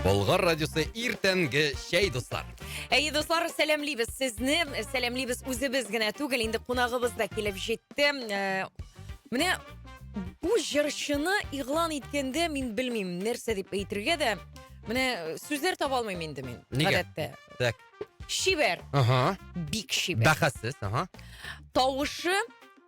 Болгар радиосы иртәнге чәй дуслар. Әйе, дуслар, сәламлибез сезне. Сәламлибез үзебез генә түгел, инде кунагыбыз да килеп җитте. Э, менә бу җырчыны игълан иткәндә мин белмим, нәрсә дип әйтергә дә. Менә э, сүзләр таба алмыйм инде мин. Нигә? Так. Шибәр. Ага. Бик шибәр. Бәхәссез, ага. Тавышы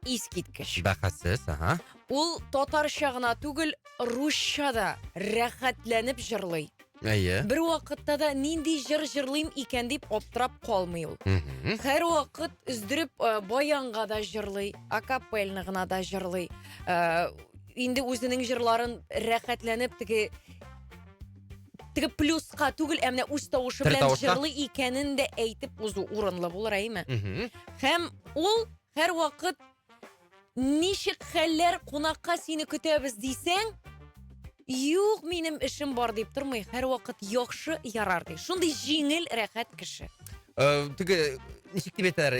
Искиткеч. Бәхәссез, ага. Ул татарча гына түгел, русча да рәхәтләнеп җырлый. Әйе. Бер вакытта да нинди җыр җырлыйм икән дип аптырап калмый ул. Мгм. Һәр вакыт өздереп э, баянга да җырлый, акапельно гына да җырлый. Э, Инде үзенең җырларын рәхәтләнеп теге теге плюска түгел, ә менә үз тавышы Тер белән тавышка. җырлый икәнен дә әйтеп узу урынлы булыр, әйме? Мгм. Һәм ул Һәрвакыт ничек хәлләр кунакка сине көтәбез дисәң, юк минем эшем бар дип тормый, һәрвакыт яхшы ярар ди. Шундый җиңел, рәхәт кеше. Э, теге ничек дип әйтәләр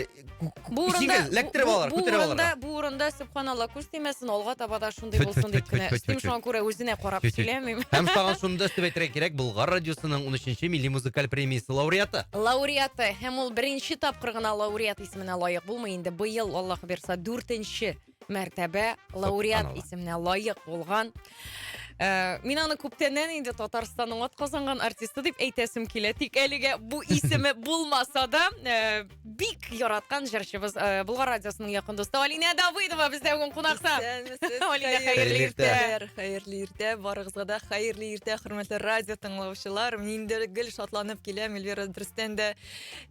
бу урында эләктереп алалар күтәреп алалар бу урында сөбханалла күз тимәсен алга таба да шундый булсын дип кенә өстим шуңа күрә үзенә карап сөйләмим һәм сагын шуны да өстәп әйтергә кирәк болгар радиосының унөченче милли музыкаль премиясе лауреаты лауреаты һәм ул беренче тапкыр гына лауреат исеменә лаек булмый инде быел аллаһ бирса дүртенче мәртәбә лауреат исеменә лаек булган ә, мин аны күптәннән инде татарстанның атказанган артисты дип әйтәсем килә тик әлегә бу исеме булмаса да ә, бик яраткан җырчыбыз ә, болгар радиосының якын дусты алинә давыдова бездә бүгін кунакта алинә хәерле иртә хәерле иртә барыгызга да хәерле иртә хөрмәтле радио тыңлаучылар мин дә гел шатланып киләм эльвира дөрестән дә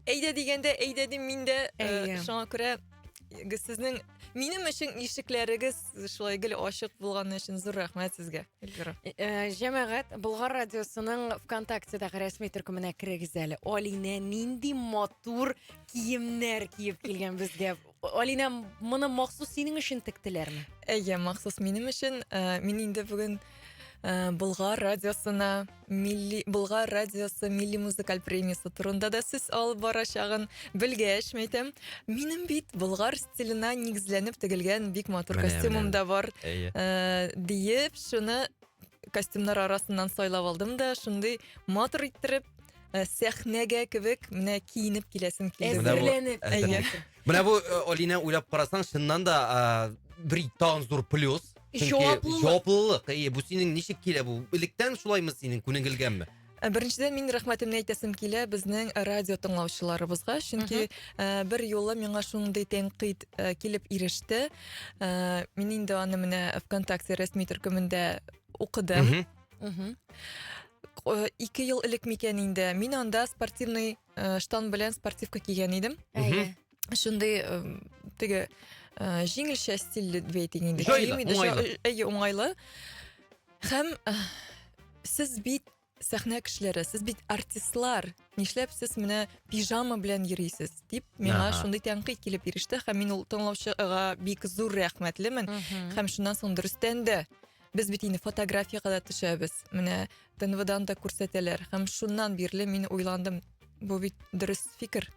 Әйдә дигәндә, әйдә дим мин дә. Э, Әйе. Шуңа күрә э, сезнең минем өчен ишекләрегез шулай гел ачык булганы өчен зур рәхмәт сезгә, Эльвира. Э, э, Җәмәгать Болгар радиосының ВКонтактедагы рәсми төркеменә керегез әле. Алинә нинди матур киемнәр киеп килгән безгә. Алинә, моны махсус синең өчен тектеләрме? Әйе, махсус минем өчен. Э, мин инде бүген э, Болгар радиосына милли Болгар радиосы милли музыкаль премиясе турында да сүз алып барачагын белгәч, мәйтәм, минем бит Болгар стиленә нигезләнеп тегелгән бик матур костюмым да бар. Әйе. Э, диеп, шуны костюмнар арасыннан сайлап алдым да шундый матур иттереп э, сәхнәгә кебек менә киенеп киләсем килде. Менә бу- Әзерләнеп. әзерләнеп. Әйе. Менә бу э, Алинә уйлап карасаң, чыннан да а, бер тагын зур плюс. Чөнки Җаваплылык. Җаваплылык. Әйе, бу синең ничек килә бу? Электән шулаймы синең күнегелгәнме? Ә беренчедән мин рәхмәтемне әйтәсем килә безнең радио тыңлаучыларыбызга, чөнки ә, бер юлы миңа шундый тәнкыйть ә, килеп иреште. Ә, мин инде аны менә ВКонтакте рәсми төркемендә укыдым. Мгм. Мгм. Э, Ике ел элек микән инде мин анда спортивный э, штан белән спортивка кигән идем. Әйе. шундый теге җиңелчә стильле вейтинг инде. Җайлы, уңайлы. Әйе, уңайлы. Һәм сез бит сәхнә кешеләре, сез бит артистлар. Нишләп сез менә пижама белән йөрисез? дип миңа шундый тәнкыйть килеп иреште. Һәм мин ул тыңлаучыга бик зур рәхмәтлемен. Һәм шуннан соң дөрестән дә без бит инде фотографиягә дә төшәбез. Менә ТНВдан да күрсәтәләр. Һәм шуннан бирле мин уйландым, бу бит дөрес фикер.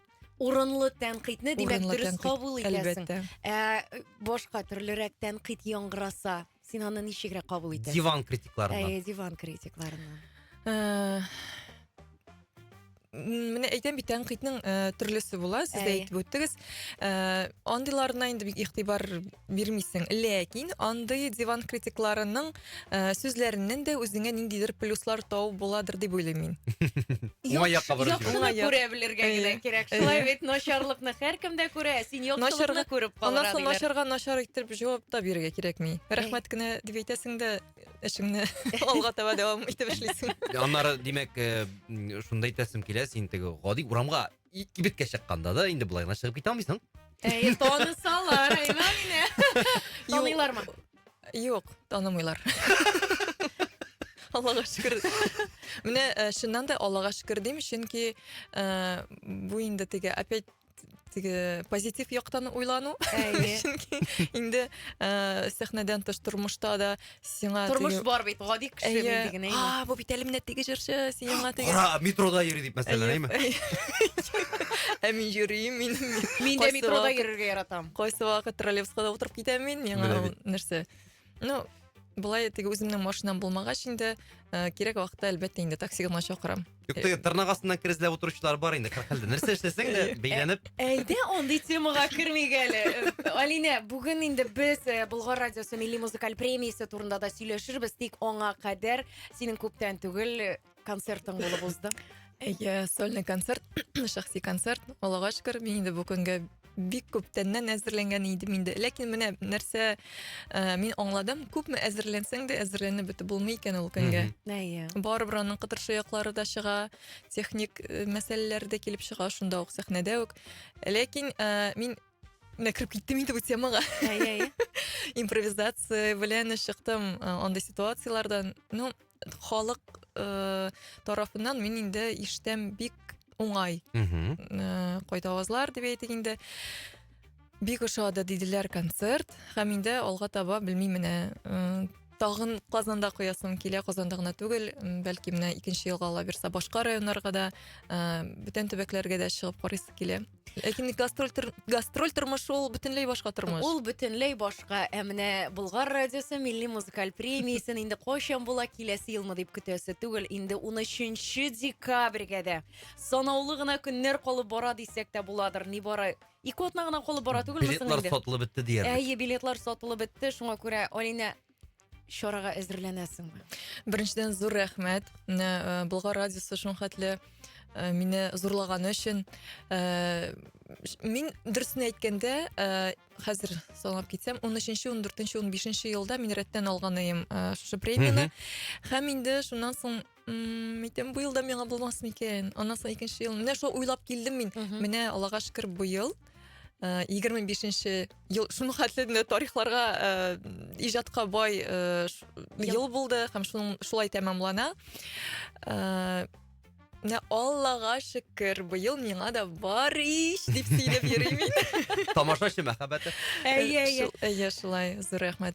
урынлы тәнкыйтьне димәк дөрес кабул итәсең. Ә башка төрлерәк тәнкыйть яңгыраса, син аны ничегрәк кабул итәсең? Диван критикларыннан. Әйе, диван критикларыннан. Э, менә әйтәм бит тәнкыйтьнең э, төрлесе була, сез дә әйтеп үттегез. Э, андыйларына инде бик игътибар бирмисең ләкин андый диван критикларының ә, сүзләреннән дә үзеңә ниндидер плюслар табу буладыр дип уйлыйм мин уңай якка борып жибәрә. Яхшыны Уңай. күрә белергә Әйе. генә кирәк. Әйе. Шулай бит, начарлыкны һәркем дә күрә, ә син яхшылыкны Начарга- күреп аннан калырга соң диләр. начарга начар итеп җавап та бирергә кирәкми рәхмәт кенә дип әйтәсең дә эшеңне алга таба дәвам итеп эшлисең Аннары, димәк, э, м, шуны да әйтәсем килә, син теге гади урамга ит кибеткә чыкканда да инде болай гына чыгып китә алмыйсың. Әй, танысалар, әйла мине. Таныйлармы? Юк, танымыйлар. Аллага шөкер. Менә э, чыннан да Аллага шөкер дим, чөнки э, бу инде теге опять теге позитив яктан уйлану. Әйе. Чөнки инде э, сәхнәдән тыш тормышта да Сиңа Тормыш бар бит, гади кеше Әйе. нинди генә инде. А, бу бит әле менә теге җырчы, сиңа теге. Ара метрода йөри дип мәсәлән, әйме? Ә мин йөрим, мин Мин дә метрода йөрергә яратам. Кайсы вакыт троллейбуска да утырып китәм мин, миңа Менә бит. нәрсә. Ну, былай теге үземнең машинам булмагач инде, э, кирәк вакытта әлбәттә инде такси гына чакырам. Юк, теге тырнак астыннан керезләп утыручылар бар инде, кырык хәлдә. Нәрсә эшләсәң дә, бәйләнеп. Әйдә андый темага кермик әле. Э, Алинә, бүген инде без э, Болгар радиосы милли музыкаль премиясе турында да сөйләшербез, тик аңа кадәр синең күптән түгел э, концертың булып узды. Әйе, сольный концерт, шәхси концерт. Аллага шөкер, мин инде бу көнгә бик күптәннән әзерләнгән идем инде. Ләкин менә нәрсә э, мин аңладым, күпме әзерләнсәң дә әзерләнеп бетеп булмый икән ул көнгә. Әйе. Барыбер аның кытыршы яклары да чыга, техник э, мәсьәләләр дә килеп чыга шунда ук сәхнәдә үк. Ләкин э, мин менә кереп киттем инде бу темага. Әйе, әйе. Импровизация белән чыктым э, андый ситуацияләрдән. Ну, халык э, тарафыннан мин инде иштем бик уңай э, кайда авазлар дип әйтик инде бик ошады диделәр концерт һәм инде алга таба белмим менә э, тагын казанда куясым килә казанда гына түгел бәлки менә икенче елга алабирса башка районнарга да э, бөтен төбәкләргә дә чыгып карыйсы килә Ләкин э, гастроль, тор, гастроль тормышы ул бөтенләй башка тормыш. Ул бөтенләй башка. Ә менә Болгар радиосы милли музыкаль премиясен инде кайчан була киләсе елмы дип көтәсе түгел. Инде 13 декабрьгә дә санаулы гына көннәр калып бара дисәк тә буладыр. Ни бара ике атна гына калып бара түгелме соң инде? Билетлар сатылып бетте диярлек. Әйе, билетлар сатылып бетте. Шуңа күрә Алина чарага әзерләнәсеңме беренчедән зур рәхмәт менә э, болгар радиосы шулхәтле э, мине зурлаганы өчен э, мин дөресен әйткәндә хәзер санап китсәм он өченче он дүртенче он бишенче елда мин рәттән алган идем шушы премияне һәм инде шуннан соң ммм әйтәм быел да миңа булмас микән аннан соң икенче ел менә шул уйлап килдем мин менә аллага шөкер быел э, егерме бишенче ел шуның хәтле менә тарихларга э, иҗатка бай э, ш- ел булды һәм шуның шулай тәмамлана Э, менә аллага шөкер быел миңа да бар ич дип сөйләп йөрим мин Тамашачы мәхәббәте. Әйе, әйе. Шул- әйе шулай зур рәхмәт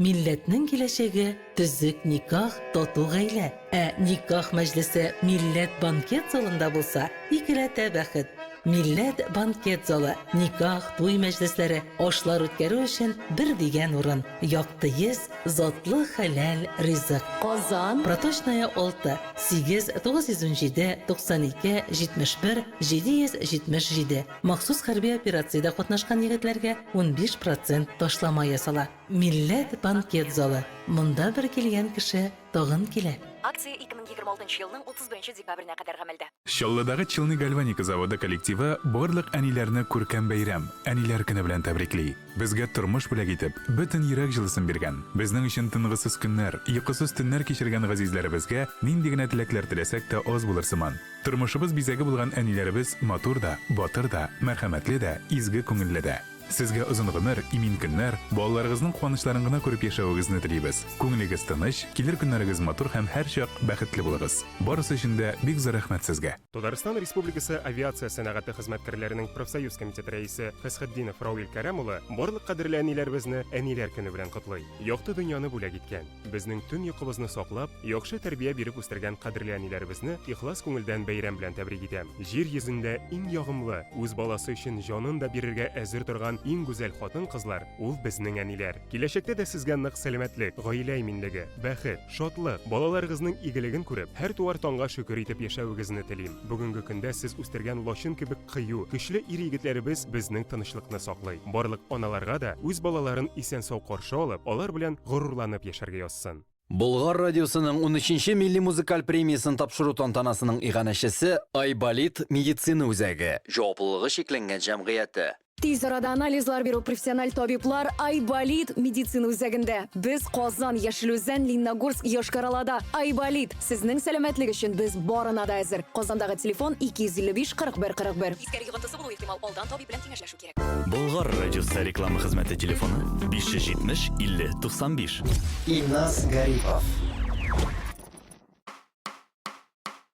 Милләтнең киләчәге, төзек никах, тату гаилә. Ә никах мәҗлесе Милләт банкет залында булса, икеләтә бәхет. Милләт банкет залы, никах, туй мәҗлесләре, ашлар үткәрү өчен бер дигән урын. Якты йөз, затлы хәләл ризык. Казан. Проточная 6, 8 917 92 71 777. Махсус хәрби операциядә катнашкан егетләргә унбиш процент ташлама ясала. Милләт банкет залы, монда бер килгән кеше тагын килә. Акция 2026 елның 31 декабренә кадәр гамәлдә. Чаллыдагы Челны гальваника заводы коллективы барлык әниләрне күркәм бәйрәм, Әниләр көне белән тәбрикли. Безгә тормыш бүләк итеп, бөтен йөрәк җылысын биргән, безнең өчен тынгысыз көннәр, йокысыз төннәр кичергән газизләребезгә нинди генә теләкләр теләсәк тә аз булыр сыман. Тормышыбыз бизәге булган әниләребез матур да, батыр да, мәрхәмәтле дә, изге күңелле дә. Сезгә озын гомер, имин көннәр, балаларыгызның куанычларын гына күреп яшәвегезне телибез. Күңелегез тыныч, килер көннәрегез матур һәм һәрчак бәхетле булыгыз. Барысы өчен дә бик зур рәхмәт сезгә! Татарстан Республикасы авиация сәнәгате хезмәткәрләренең профсоюз комитеты рәисе Фәсхетдинов Рауил Кәрәм улы барлык кадерле әниләребезне Әниләр көне белән котлый. Якты дөньяны бүләк иткән, безнең төн йокыбызны саклап, яхшы тәрбия биреп үстергән кадерле әниләребезне ихлас күңелдән бәйрәм белән тәбрик итәм. Җир йөзендә иң ягымлы, үз баласы өчен җанын да бирергә әзер торган иң гүзәл хатын-кызлар, ул безнең әниләр. Киләчәктә дә сезгә нык сәламәтлек, гаилә иминлеге, бәхет, шатлык, балаларыгызның игелеген күреп, һәр туар таңга шөкер итеп яшәвегезне телим. Бүгенге көндә сез үстергән лачын кебек кыю, көчле ир-егетләребез безнең тынычлыкны саклый. Барлык аналарга да үз балаларын исән-сау каршы алып, алар белән горурланып яшәргә язсын. Болгар радиосының унөченче милли музыкаль премиясен тапшыру тантанасының иганәчесе Айболит медицина үзәге җаваплылыгы чикләнгән җәмгыяте, Тиз арада анализлар бирү профессиональ табиблар Айболит медицина үзәгендә. Без Казан, Яшел Үзән, Лениногорск, Йошкар-Олада. Айболит, сезнең сәламәтлек өчен без барына да әзер. Казандагы телефон 255 41 41. Искәр йогынтысы булу ихтимал, алдан табиб белән киңәшләшү кирәк. Болгар радиосы реклама хезмәте телефоны 570 50 95. Илназ Гарипов.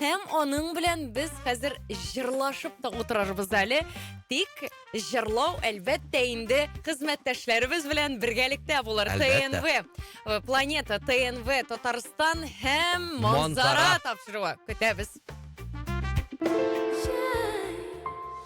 Һәм аның белән без хәзер җырлашып та утырырбыз әле. Тик җырлау, әлбәттә, инде хезмәттәшләребез белән бергәлектә булыр. ТНВ, э, Планета, ТНВ, Татарстан һәм Монзара тапшыруы. Көтәбез.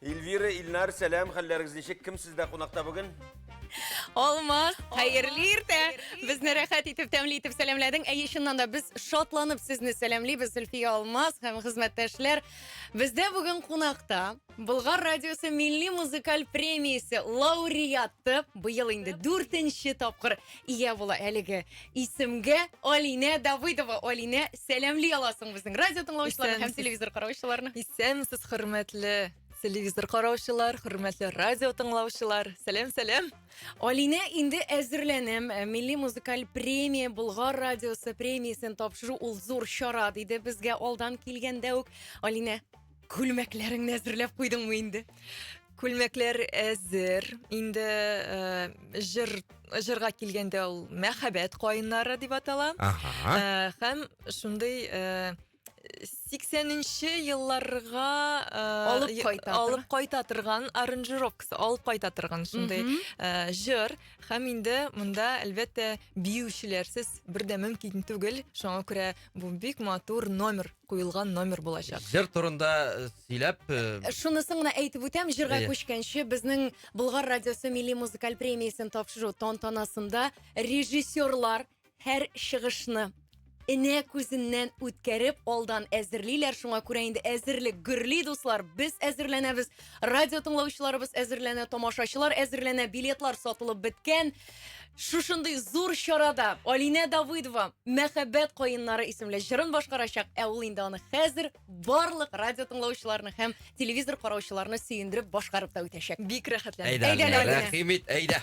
Эльвира, Ильнар, сәлам, хәлләрегез ничек? Кем сездә кунакта бүген? Алма, хәерле иртә. Безне рәхәт итеп, тәмле итеп сәламләдең. Әйе, чыннан да без шатланып сезне сәламлибез, Зөлфия Алмаз һәм хезмәттәшләр. Бездә бүген кунакта Болгар радиосы милли музыкаль премиясе лауреаты, быел инде дүртенче тапкыр ия була әлеге исемгә Алинә Давыдова. Алинә, сәламли аласың безнең радио тыңлаучыларны һәм телевизор караучыларны. Исәнмесез, хөрмәтле телевизор караучылар, хөрмәтле радио тыңлаучылар. Сәлам, сәлам. Алинә инде әзерләнәм. Э, милли музыкаль премия Болгар радиосы премиясен тапшыру ул зур чара, диде безгә алдан килгәндә үк Алинә. Күлмәкләреңне әзерләп куйдыңмы инде? Күлмәкләр әзер. Инде э, җыр җырга килгәндә ул мәхәббәт каеннары дип атала. Ага. Э, һәм шундый э, 80-нче елларга э, Алып е- кайта торган. алып кайта торган аранжировкасы, алып кайта торган шундый Мгм. э, җыр һәм инде монда әлбәттә биючеләрсез бер дә мөмкин түгел. Шуңа күрә Бу бик матур номер, куелган номер булачак. Җыр турында э, сөйләп, э, Э, Шунысын гына әйтеп үтәм, җырга Әйе. күчкәнче, безнең Болгар радиосы милли музыкаль премиясен тапшыру тантанасында режиссерлар һәр чыгышны энә күзеннән үткәреп алдан әзерлиләр. Шуңа күрә инде әзерлек гөрли, дуслар. Без әзерләнәбез, радио тыңлаучыларыбыз әзерләнә, тамашачылар әзерләнә, билетлар сатылып беткән. Шушындый зур чарада Алинә Давыдова Мәхәббәт каеннары исемле җырын башкарачак, ә ул инде аны хәзер барлык радио тыңлаучыларны һәм телевизор караучыларны сөендереп башкарып та үтәчәк. Бик рәхәтләнеп. Әйдә, Әйдә, Алинә, Алинә. рәхим ит, әйдә.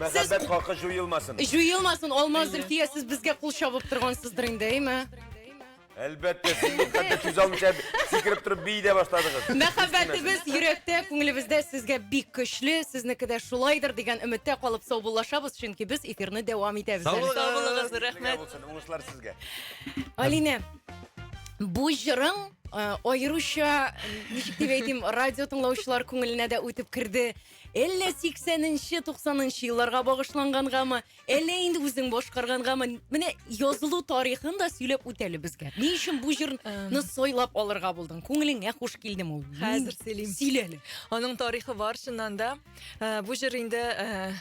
Мәхәббәт хакы җуелмасын. Җуелмасын, Алмаз Зөлфия, сез безгә кул чабып торгансыздыр инде, әйме? Әлбәттә, сез бит хәтта сүз алмыйча сикереп торып бии дә башладыгыз. Мәхәббәтебез йөрәктә, күңелебездә сезгә бик көчле, сезнеке дә шулайдыр дигән өметтә калып саубуллашабыз, чөнки без эфирны дәвам итәбез. әле. Сау булыгыз, Сезгә рәхмәт. булсын, уңышлар сезгә. Алинә, бу җырың э, аеруча, ничек дип әйтим, радио тыңлаучылар күңеленә дә үтеп керде. Әллә 80 нче, 90 нчы елларга багышлангангамы, Әллә инде үзең башкаргангамы? Менә язылу тарихын да сөйләп үт әле безгә. Ни өчен бу җырны сайлап алырга булдың? Күңелеңә хуш килдеме ул? Хәзер сөйлим. Сөйлә әле. Аның тарихы бар чыннан да. Ә, Бу җыр инде ә,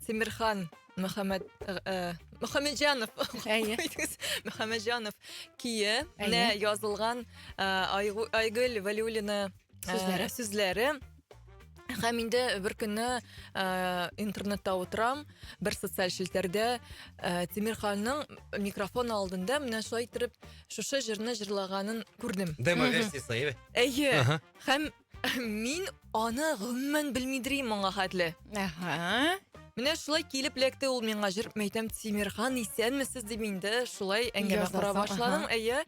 Тимирхан Мөхәммәд ә, Мөхәммәдҗанов. Әйе. Куйдыгыз. Мөхәммәдҗанов кие Әйе. язылган ә, Айгу- Айгөл Вәлиуллина ә, Сүзләре. сүзләре. Һәм инде бер көнне ә, интернетта отырам, бер социаль челтәрдә ә, Тимирханның микрофон алдында менә шулай итеп шушы җырны җырлаганын күрдем. Демо версиясе, әйе. Әйе. Һәм мин аны гомумән белмидер идем моңа хәтле. Әһә. Менә шулай килеп лекте ул миңа җыр мәйтәм Тимирхан исәнмесез дип инде шулай әңгәмә кора башладым. Әйе.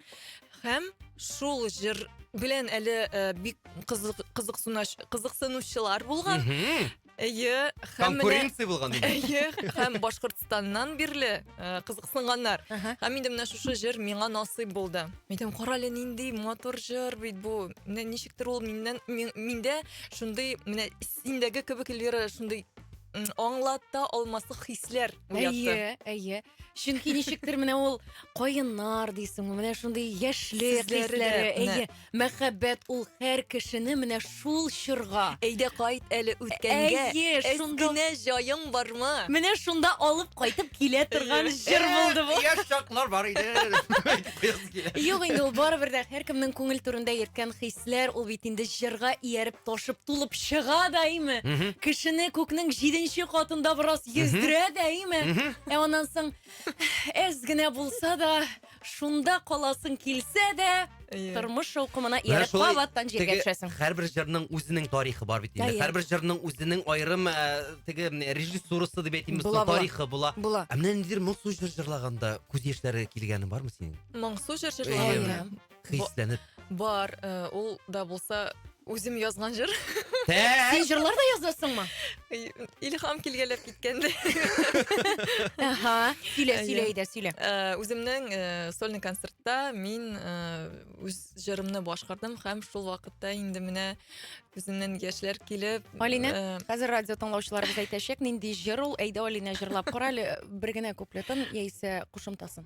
Һәм шул җыр белән әле э, бик кызык, кызыксынач- кызыксынучылар булган. Мгм. Әйе, һәм менә Конкуренция булган диде. Әйе, һәм Башкортстаннан бирле э, кызыксынганнар. Ага. Һәм инде менә шушы җыр миңа насыйп булды. Әйтәм, кара әле нинди матур җыр бит бу. Менә ничектер ул миннән мин- миндә шундый менә синдәге кебек Эльвира шундый м, аңлата алмаслык хисләр уятты. Әйе, әйе. Чөнки ничектер менә ул каеннар дисеңме, менә шундый яшьле хисләре, әйе, мәхәббәт ул һәр кешене менә шул чорга. Әйдә кайт әле үткәнгә. Әйе, шунда генә җаең бармы? Менә шунда алып кайтып килә торган җыр булды бу. Яшь чаклар бар иде. Юк инде ул барыбер дә һәркемнең күңел түрендә йөрткән хисләр, ул бит инде җырга ияреп ташып тулып чыга даими. Кешене күкнең җиденче катында бераз Йөздерә дәиме. Ә аннан соң әз генә булса да, шунда каласың килсә дә, тормыш шаукымына ияреп кабаттан җиргә төшәсең. Һәрбер җырның үзенең тарихы бар бит инде. Һәрбер җырның үзенең аерым теге режиссурасы дип әйтимме, тарихы була. Була. Ә менә ниндидер моңсу җыр җырлаганда күз яшьләре килгәне бармы синең? Моңсу җыр җырлаганда. хисләнеп. Бар, э, ул да булса үзем язган җыр. Син җырлар да язасыңмы? Илһам килгәләп киткәндә. Аһа, сөйлә, Әйе. сөйлә, Идә, сөйлә. Э, Үземнең э, сольный концертта мин э, үз җырымны башкардым һәм шул вакытта инде менә күземнән яшьләр килеп. Алинә? э, Хәзер радио тыңлаучыларыбыз әйтәчәк, нинди җыр ул, әйдә Алинә җырлап кара әле бер генә куплетын яисә кушымтасын.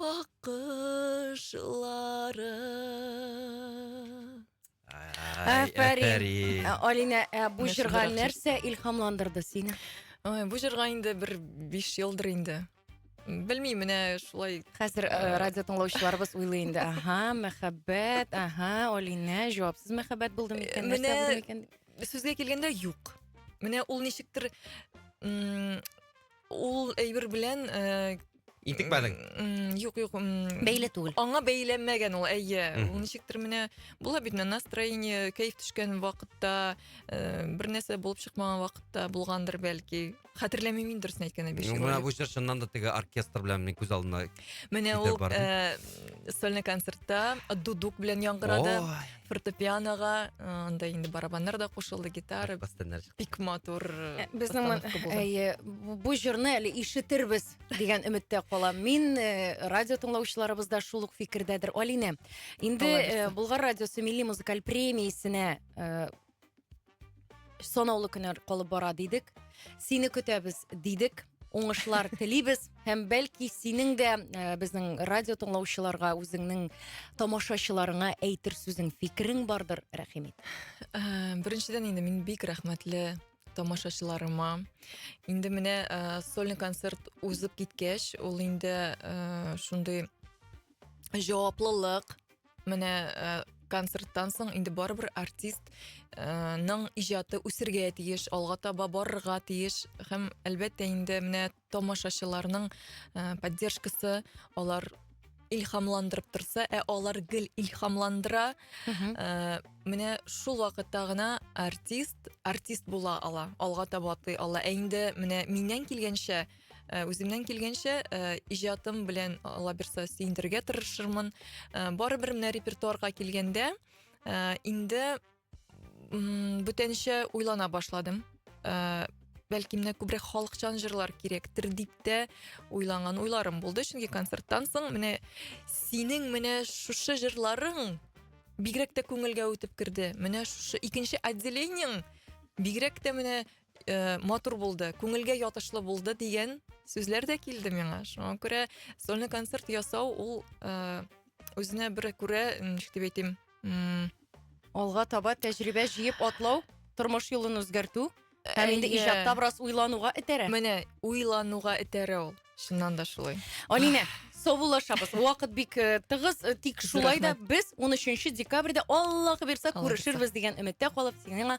Аккышлары. Афәрин. Алина, ә бу җырга нәрсә илһамландырды сине? Ой, бу җырга инде бер 5 елдыр инде. Белмим, менә шулай. Хәзер э, э, радио тыңлаучыларыбыз уйлый инде. Аһа, мәхәббәт, аһа, Алина, җавапсыз мәхәббәт булды микән? Менә сүзгә килгәндә юк. Менә ул ничектер Ул әйбер белән э, Интекмәдең. м, юк юк м, Бәйле түгел. аңа бәйләнмәгән ул әйе Мгм. ул ничектер менә була бит менә настроение кәеф төшкән вакытта э, бер нәрсә булып чыкмаган вакытта булгандыр бәлки хәтерләмим мин дөресен әйткәндә биш Ну, ел Менә элек. бу җыр чыннан да теге оркестр белән минем күз алдына. менә китәр ул бардым. э, сольный концертта дудук белән яңгырады Ой. фортепианоға анда инде барабаннар да кушылды гитара бик матур э, безнең әйе бу җырны әле ишетербез дигән өметтә калам мин э, радио тыңлаучыларыбыз да шул ук фикердәдер алинә инде э, болгар радиосы милли музыкаль премиясенә Санаулы көннәр калып бара дидек. Сине көтәбез дидек. Уңышлар телибез һәм бәлки синең дә э, безнең радио тыңлаучыларга үзеңнең тамашачыларыңа әйтер сүзең, фикерең бардыр, рәхим ит. Э, Беренчедән инде мин бик рәхмәтле тамашачыларыма. Инде менә э, сольный концерт узып киткәч, ул инде э, шундый җаваплылык, менә э, концерттан соң инде барыбер артист э, ның иҗаты үсергә тиеш, алга таба барырга тиеш һәм әлбәттә инде менә тамашачыларның э, поддержкасы алар илһамландырып торса, ә алар гел илһамландыра. Ә, менә шул вакытта гына артист артист була ала, алга таба атлый ала. Ә инде менә миннән килгәнчә Э, үземнән килгәнчә э, иҗатым белән алла бирса сөендерергә тырышырмын э, барыбер менә репертуарга килгәндә инде бүтәнчә уйлана башладым бәлки менә күбрәк халыкчан җырлар кирәктер дип тә уйланган уйларым булды чөнки концерттан соң менә синең менә шушы җырларың бигрәк тә күңелгә үтеп керде менә шушы икенче отделениең бигрәк тә менә э, матур булды, күңелгә ятышлы булды дигән сүзләр дә килде миңа. Шуңа күрә сольный концерт ясау ул э, үзенә бер күрә, ничек дип әйтим, алга таба тәҗрибә җыеп атлау, тормыш юлын үзгәртү һәм инде иҗатта бераз уйлануга этәрә. Менә уйлануга этәрә ул. Чыннан да шулай. Алинә, саубуллашабыз. Вакыт бик э, тыгыз, э, тик шулай да без 13 декабрьдә Аллаһы бирса күрешербез дигән өметтә калып, сиңа